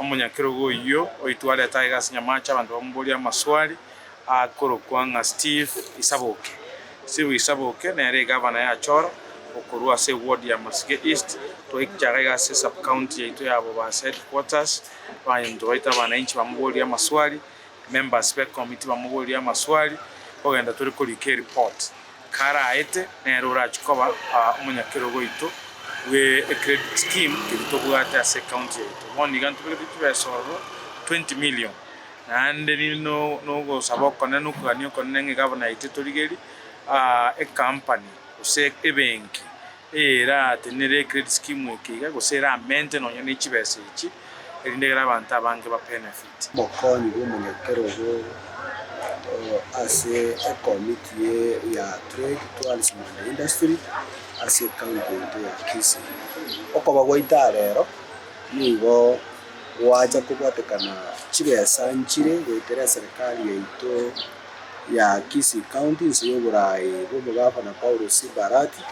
Omonyakerogo oyio oitwa areta aiga ase nyamaache abanto bamoborie amaswali akorokwa ng'a Steve Isaboke. Steve Isaboke nere egavana ya Achora okorwa ase ewodi ya Masike East. Twaichara iga ase sub-county yaito ya Bobasi Headquarters abanto baito abanainchi bamoborie amaswali Members be committee bamoborie amaswali kogenda tore korika ereport kare aete nere orachie koba omonyakerogo oito bwe ecredit scheme keria tobwate ase ecounty yaito. Bono iga ntobegetwe chibesa ororo twenty million naende nogosaba okonene okogania okonene ng'a egabana yaito etorigerie ecompany gose ebenki eratenenere ecredit scheme eke iga gose era amente nonya nechibesa echi erinde ekero abanto abange ba benefite. Omokonyi bw'omonyakerogo ase ekomiti ya Trade, Tourism and Industry ase ekaunti yaito ya Kisii. Okoba gwaito aa rero nigo gwacha kobwatekana chibesa nchire goetera eserikari yaito ya Kisii County nse y'oboraai bw'omogavana Paulus Barati.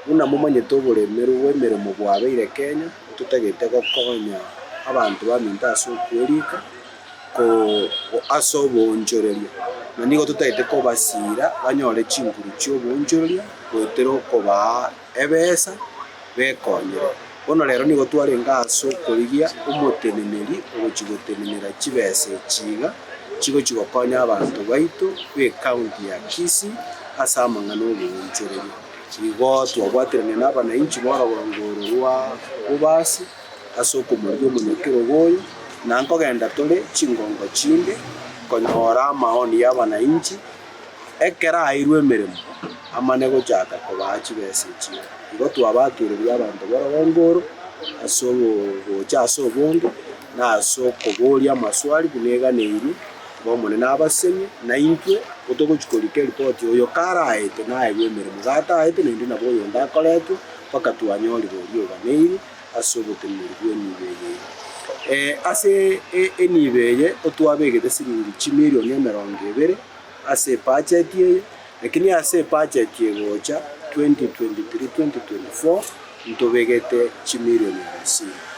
Buna momanyete oboremeru bw'emeremo bwabeire Kenya. Totagete gokonya abanto baminto ase okwerika ase oboonchoreria, na nigo totagete kobasiira banyore chinguru chi'oboonchoreria goetera okobaa ebesa bekonyere. Bono rero nigo twarenge ase okorigia omoteneneri ogochia gotenenera chibesa echi iga chigochia gokonya abanto baito b'ekaunti ya Kisii ase amang'ana 'oboonchoreria. Nigo twabwaterania nabanainchi b'orogorongo oro rwa Bubasi ase okomoria omonyakerogo oyo, na nkogenda tore chingongo chinde konyora amaoni y'abanainchi ekero aeirwe emeremo, amane gochaka kobaa chibesa echio. Igo twabakeireria abanto b'orogorongo oro ase ogocha ase obonge, na ase okoboria amaswali buna eganeirwe, b'Omonene abasemi, na intwe totogochia korika eripoti, oyo karaete naegwe emeremo gataete, naende nabo oyonde akoretwe, mpaka twanyorire oria oganeiri ase oboteneneri bw'enibo eye. Eh, ase enibo eye otwabegete siringi chimilion emerongo ebere ase ebacheti eye, lakini ase ebacheti egocha 2023, 2024 ntobegete chimilion abasini.